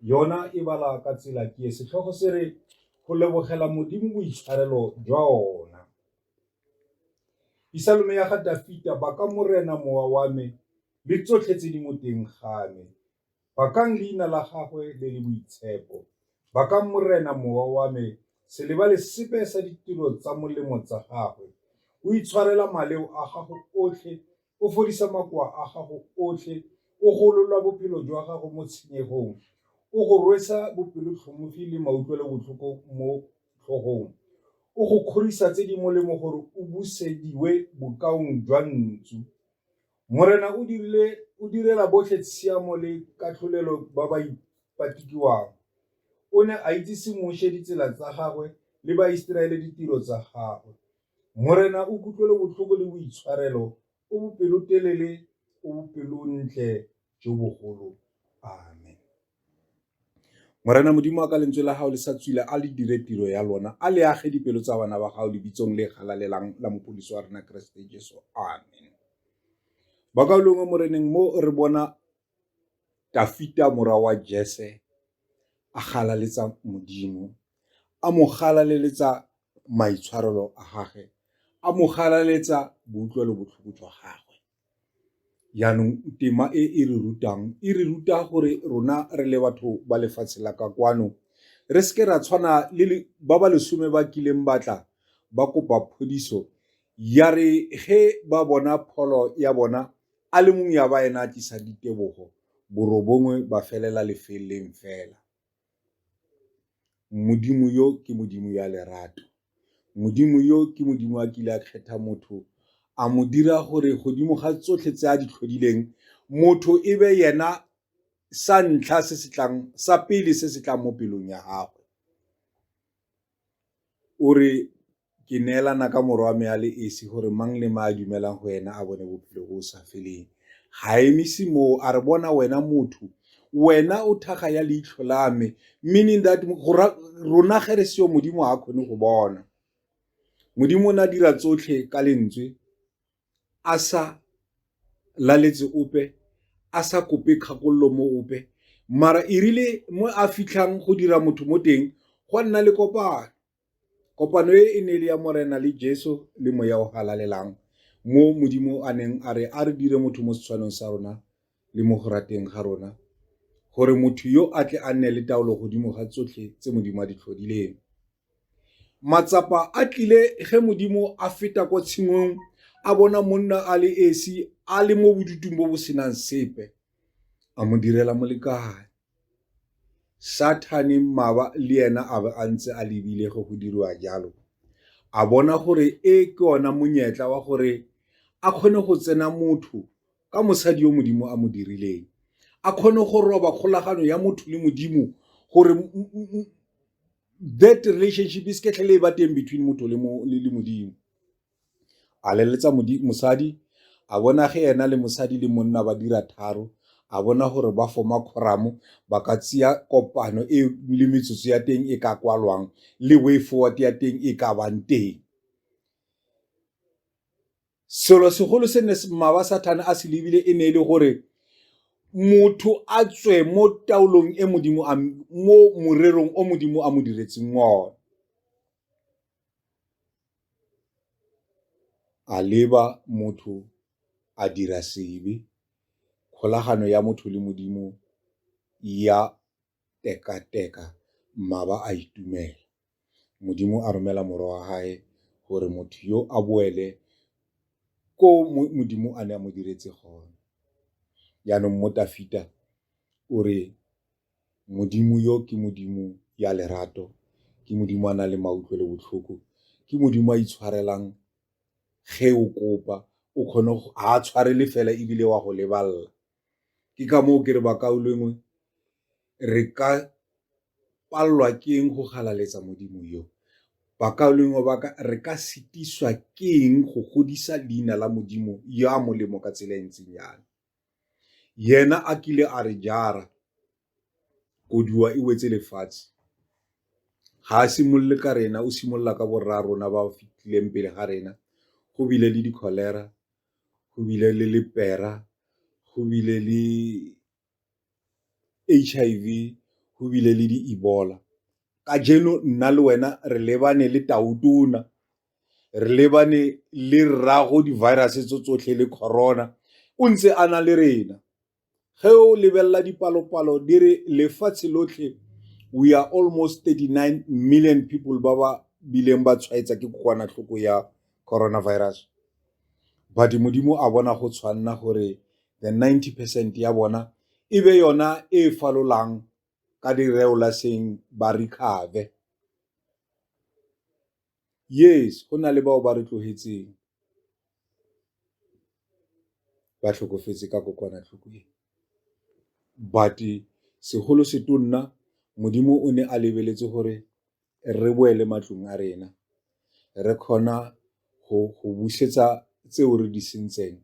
yona e bala ka tsela ke e setlhogo se re go lebogela modimo boitshwarelo jwa ona isalome ya ga dafita ba ka morena mowa wa me le tsotlhe tse di mo teng ga me bakang leina la gagwe le le boitshepo bakang morena mowa wa me se lebale sepe sa ditiro tsa molemo tsa gagwe o itshwarela maleo a gago otlhe O fodisa makoa a gago otlhe, o golola bophelo jwa gago mo tshenyegong, o go rwesa bopelotlhomogi le mautlwelobotlhoko mo tlhogong, o go kgorisa tse di molemo gore o busediwe bokaong jwa ntsu. Morena o dirile o direla botlhe tshiamo le katlholelo ba ba ipatikiwang. O ne a itsise Moshe ditsela tsa gagwe le Baiseraele ditiro tsa gagwe. Morena o kutlwelobotlhoko le boitshwarelo, o bopelotelele, o bopelontle jo bogolo. Amen. Morena Modimo wa ka lentswe la gago le sa tswile a le dire tiro ya lona, a le age dipelo tsa bana ba gago lebitsong le galalelang la mopodisi wa rena Keresete Jesu. Amen. Ba ka longwe moreneng mo re bona Dafita mora wa Jese a galaletsa Modimo, a mo galaleletsa maitshwarelo a gage, a mo galaleletsa boutlwelobotlhoko jwa gagwe. Jaanong tema e e re rutang e re ruta gore rona re le batho ba lefatshe la ka kwano re seke ra tshwana le ba ba lesome ba kileng batla ba kopa phodiso ya re ge ba bona pholo ya bona A le mongwe ya ba ena a tlisa ditebogo, borobongwe ba felela lefeleng fela. Modimo yo ke Modimo ya lerato. Modimo yo ke Modimo a kile a kgetha motho a mo dira gore godimo ga tsotlhe tse a di tlhodileng motho e be yena sa ntlha se se tlang sa pele se se tlang mo pelong ya gagwe. O re, Ke neelana ka Morwa wa me a le esi gore mang le mang a dumelang go ena a bone bophelo bo sa feleng. Ga emise moo a re, Bona wena motho, wena o thaga ya leitlho la me, meaning that rona ge re seyo Modimo ga a kgone go bona. Modimo o ne a dira tsotlhe ka lentswe. a sa laletse ope a sa kope kgakololo mo ope mara e rile mo a fitlhang go dira motho mo teng go nna le kopano kopano e e ne le ya morena le jesu le moya o halalelang mo modimo a neng a re a re dire motho mo setshwanong sa rona le mo go rateng ga rona gore motho yo a tle a nne le taolo godimo ga tsotlhe tse modimo a di tlhodileng Matsapa a tlile ge Modimo a feta kwa tshimong a bona monna a le esi a le mo bodutung bo bo senang sepe, a mo direla molekane. Sathane mmaba le ena a be a ntse a lebile ge go diriwa jalo, a bona gore e ke ona monyetla wa gore a kgone go tsena motho ka mosadi yo Modimo a mo dirileng, a kgone go roba kgolagano ya motho le Modimo gore that relationship is ketlhele e ba teng between motho le modimo a leletsa mosadi a bona ge ena le mosadi le monna ba dira tharo a bona gore ba foma khoramo ba ka tseya kopano e le metsotso ya teng e ka kwalwang le way forward ya teng e ka bang teng Selo segolo se ne maba Sathane a se lebile e ne e le gore motho a tswe mo taolong e modimo a mo morerong o modimo a mo diretseng one a leba motho a dira sebe kgolagano ya motho le modimo ya tekateka mmaba a itumela. Modimo a romela moro wa gae gore motho yo a boele ko modimo a ne a mo diretse gone jaanong mo tafita o re modimo yo ke modimo ya lerato ke modimo a na le mautlwe le botlhoko ke modimo a itshwarelang ge o kopa o kgone go a tshwarele fela ebile wa go lebalela ke ka moo ke re ba kaulengwe re ka palelwa ke eng go galaletsa modimo yo ba kaulengwe ba ka re ka sitiswa ke eng go godisa leina la modimo yo a molemo ka tsela e ntseng yana yena a kile a re jara koduwa e wetse lefatshe ga a simolole ka rena o simolola ka borra rona ba fitlhileng pele ga rena go bile le di-cholera go bile le lepera, go bile le H_I_V, go bile le di Ebola. Kajeno nna le wena re lebane le tau tona, re lebane le rraago di-virus-e tse tsotlhe le Corona o ntse a na le rena. ge o lebelela dipalopalo di re lefatshe lotlhe we are almost 39 million people ba ba bileng ba tshwaetsa ke kokwanatlhoko ya coronavirus but modimo a bona go tshwanna gore the 90 percent ya bona e be yona e falolang ka direolaseng ba recover Yes, go na le bao ba re tlogetseng ba tlhokofetse ka kokwanatlhoko e. But segolo setonna Modimo o ne a lebeletse gore re boele matlong a rena, re kgona go busetsa tseo re di sentseng,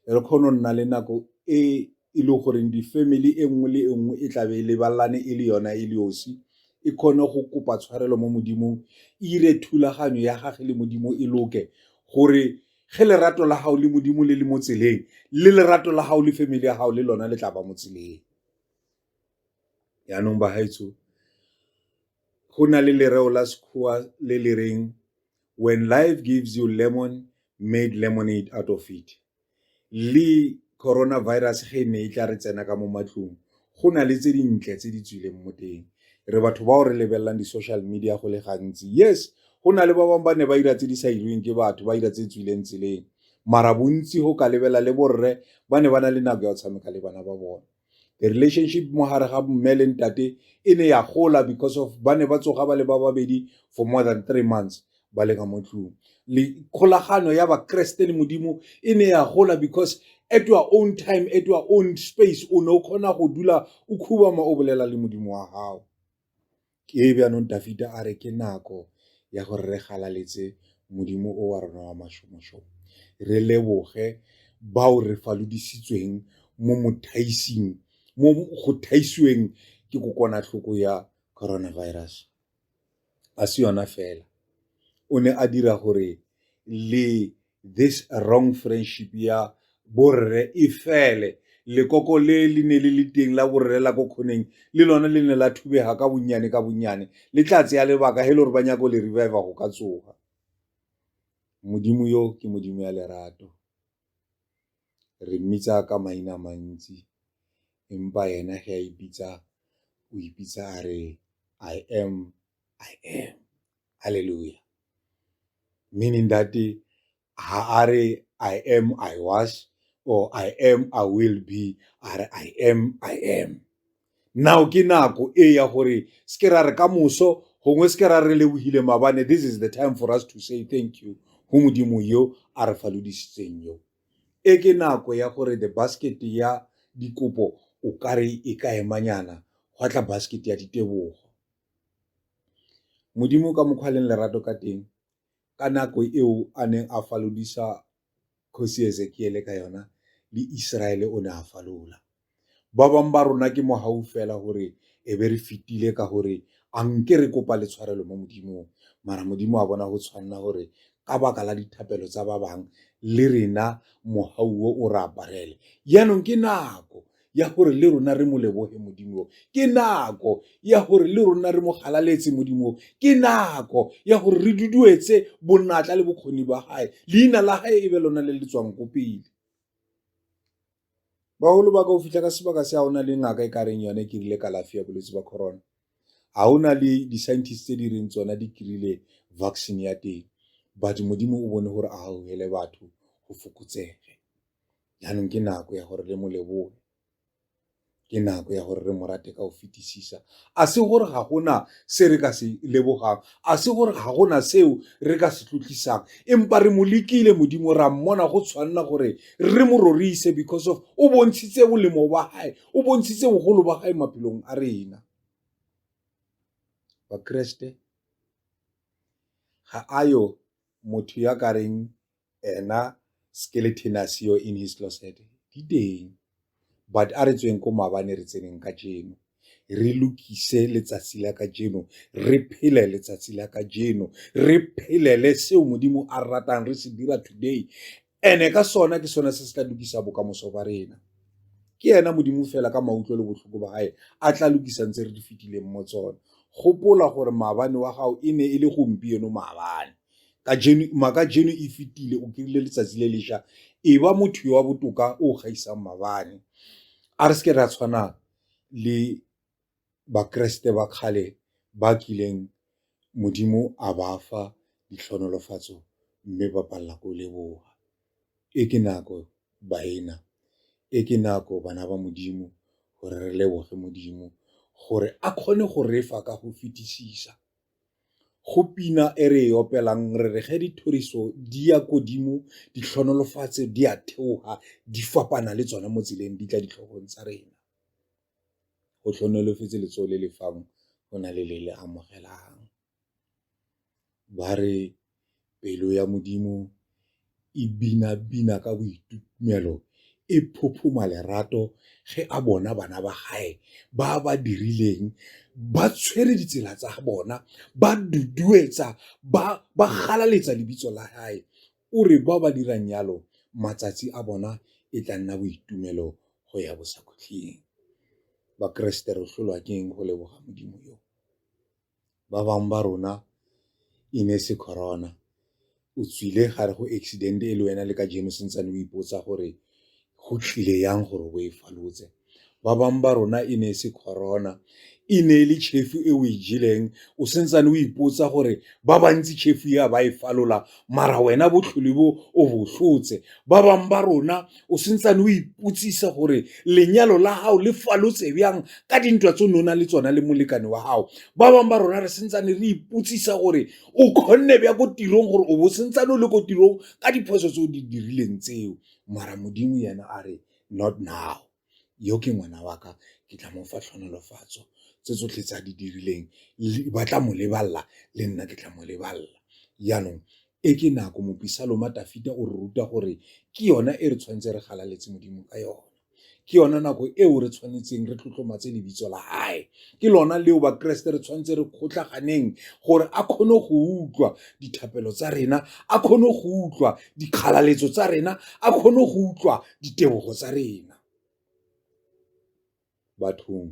re kgona go nna le nako e e le goreng di-family e nngwe le e nngwe e tla be e lebalane e le yona e le osi, e kgone go kopa tshwarelo mo Modimong, e ire thulaganyo ya gage le Modimo e loke gore ge lerato la gago le Modimo le le mo tseleng, le lerato la gago le family ya gago le lona le tla ba mo tseleng. Yaanong bagaetsho, go na le lereo la Sekgowa le le reng, when life gives you lemon, made lemonade out of it. le Corona Virus ge e ne e tla re tsena ka mo matlong go na le tse dintle tse di tswileng mo teng re batho bao re lebelelang di-social media go le gantsi yes go na le ba bangwe ba ne ba dira tse di sa irweng ke batho ba dira tse tswileng tseleng mara bontsi go ka lebela le borre ba ne ba na le nako ya go tshameka le bana ba bone the relationship mo gare ga mme le ntate e ne ya gola because of ba ne ba tsoga ba le ba babedi for more than three months ba le ka mo tlong le kgolagano ya bakreste le modimo e ne ya gola because at your own time at your own space o ne o kgona go dula o khubama o bolela le modimo wa gago Ke e jaanong Dafita a re ke nako ya gore re galaletse Modimo o wa rona wa mashomošomo, re leboge bao re falodisitsweng mo mothaising, mo go thaisiweng ke kokwanatlhoko ya coronavirus. A se yona fela, o ne a dira gore le this wrong friendship ya borre e fele lekoko le le ne le le teng la borre la ko kgoneng le lone le ne la thubega ka bonnyane ka bonnyane le tla tseya lebaka he le gore ba nyako le revive go ka tsoga modimo yo ke modimo ya lerato re mmitsa ka maina mantsi empa yena ge a ipitsa o ipitsa a re i am i am halleluja meaning that ha a re i am i was or i am i will be a re i am i am now ke nako e ya gore se ke ra re ka moso gongwe se ke ra re lebogile mabane this is the time for us to say thank you go modimo yo a re falodisitseng yo e ke nako ya gore the basket ya dikopo o kare e ka emanyana gwa tla basket ya ditebogo Modimo ka mokgwa a leng lerato ka teng ka nako eo a neng a falodisa kgosi Ezekiele ka yona le Iseraele o ne a falola ba bangwe ba rona ke mogau fela gore e be re fetile ka gore a nke re kopa le tshwarelo mo modimong mara modimo a bona go tshwanela gore ka baka la dithapelo tsa ba bangwe le rena mogau o o re aparele jaanong ke nako ya gore le rona re mo leboge modimo ke nako ya gore le rona re mo galaletse modimo ke nako ya gore re duduetse bonatla le bokgoni ba gae leina la gae e be lona le le tswang ko pele bagolo ba ka o fitlha ka sebaka se a o na le ngaka e ka reng yone ke rile kalafi ya bolwetse ba corona ga o na le di-scientist tse di reng tsona di kry-ile vaccine ya teng but modimo o bone gore a gaogele batho go fokotsege jaanong ke nako ya gore le mo leboge ke nako ya gore re mo rate ka go fetisisa a se gore ga gona se re ka se lebogang a se gore ga gona seo re ka se tlotlisang empa re mo lekile modimo ra mmona go tshwanela gore re mo rorise because of o bontshitse bolemo ba gae o bontshitse bogolo ba gae maphelong a rena bakreste ga a yo motho ya ka reng ena skeletonus eo in his closet di teng but a re tsweng ko mabane re tseneng ka jeno re lokise letsatsi la ka jeno re phele letsatsi la ka jeno re phelele seo modimo a ratang re se dira today ene ka sona ke sona se se tla lokisa bokamoso ba rena ke ena modimo fela ka mautlwe le botlhoko ba gae a tla lokisa ntse re di fetileng mo tsone gopola gore maabane wa gago e ne e le gompieno maabane Makajeno e fetile o kry-ile letsatsi le lesha e ba motho yo wa botoka o gaisang mabane a re seke ra tshwana le bakeresete ba kgale ba kileng modimo a ba fa ditlhonolofatso mme ba palela ko leboga e ke nako baena e ke nako bana ba modimo gore re leboge modimo gore a kgone go refa ka go fetisisa. Go pina e re e opelang re re ge dithoriso di ya kodimo, ditlhonolofatso di a theoga, di fapana le tsone mo tseleng di tla ditlhogong tsa rena. Go tlhonolofetse letsogo le le fang go na le le le amogelang, ba re. Pelo ya Modimo e bina-bina ka boitumelo, e phophoma lerato ge a bona bana ba gae ba ba dirileng, ba tshwere ditsela tsa bona, ba duduetsa, ba galaletsa lebitso la gae. O re bao ba dirang yalo matsatsi a bona e tla nna boitumelo go ya bosakhutleng. Bakeresete re tlholwa ke eng go leboga Modimo yo? ba bangwe ba rona e ne e se corona o tswile gare go accident e le wena le ka jeno sentsane o ipotsa gore go tlile yang gore o e falotse ba bangwe ba rona e ne e se corona e ne e le chefu e o e jeleng o sentsane o ipotsa gore ba bantsi chefu ya ba e falola mara wena botlhole bo o bo tlotse ba bangwe ba rona o sentsane o ipotsisa gore lenyalo la gago le falotse bjang ka dintwa tse o ne o na le tsona le molekane wa gago ba bangwe ba rona re sentsane re ipotsisa gore o kgonne bja ko tirong gore o bo sentsane o le ko tirong ka diphoso tse o di dirileng tseo mara modimo yena a re not now yo ke ngwana wa ka, ke tla mo fa tlhonolofatso. Tse tsotlhe tse a di dirileng ba tla mo lebalela, le nna ke tla mo lebalela. Jaanong, e ke nako, mopisaloma Dafita o re ruta gore ke yona e re tshwanetseng re galaletse Modimo ka yone. Ke yona nako eo re tshwanetseng re tlotlomatse lebitso la hae, ke lona leo bakeresete re tshwanetseng re kgotlhaganeng gore a kgone go utlwa dithapelo tsa rena, a kgone go utlwa dikgalaletso tsa rena, a kgone go utlwa ditebogo tsa rena bathong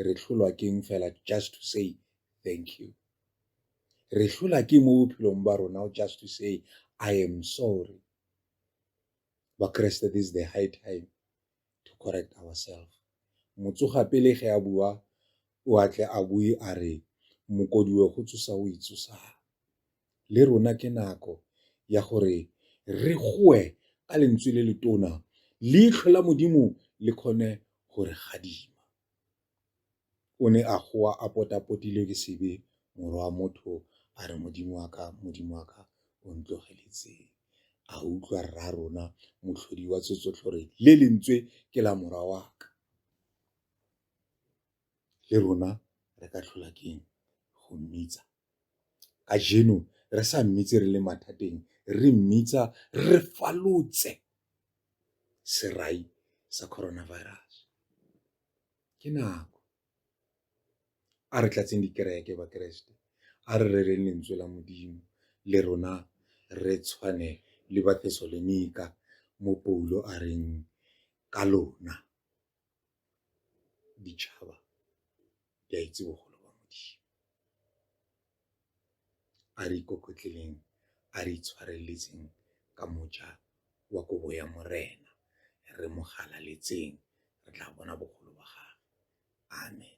re tlholwa keng fela just to say thank you re tlhola ke mo bophelong ba rona just to say i am sorry bakreste this is the high time to correct ourselves motsoga pele ge a bua o atle a bue a re mokodiwe go tsosa o itsosang le rona ke nako ya gore re goe ka lentswe le letona, leitlho la Modimo le kgone go re gadima. O ne a goa a potapotilwe ke sebe, morwa wa motho a re, Modimo wa ka, Modimo wa ka, o ntlogeletseng? A utlwa rra rona motlhodi wa tsotsotlhe gore le lentswe ke la morwa wa ka. Le rona re ka tlhola keng go mmitsa Kajeno re sa mmitse re le mathateng, re mmitsa re falotse serai sa coronavirus. Ke nako. A re tlatseng dikereke Bakeresete, a re rereng lentswe la Modimo le rona re tshwane le Bathesalonika mo Paulo a reng ka lona. ditšhaba di a itse bogolo ba Modimo. A re ikokotleleng, a re itshwareletseng ka moja wa kobo ya Morena, re mo galaletseng, re tla bona bogolo ba gagwe. Amen.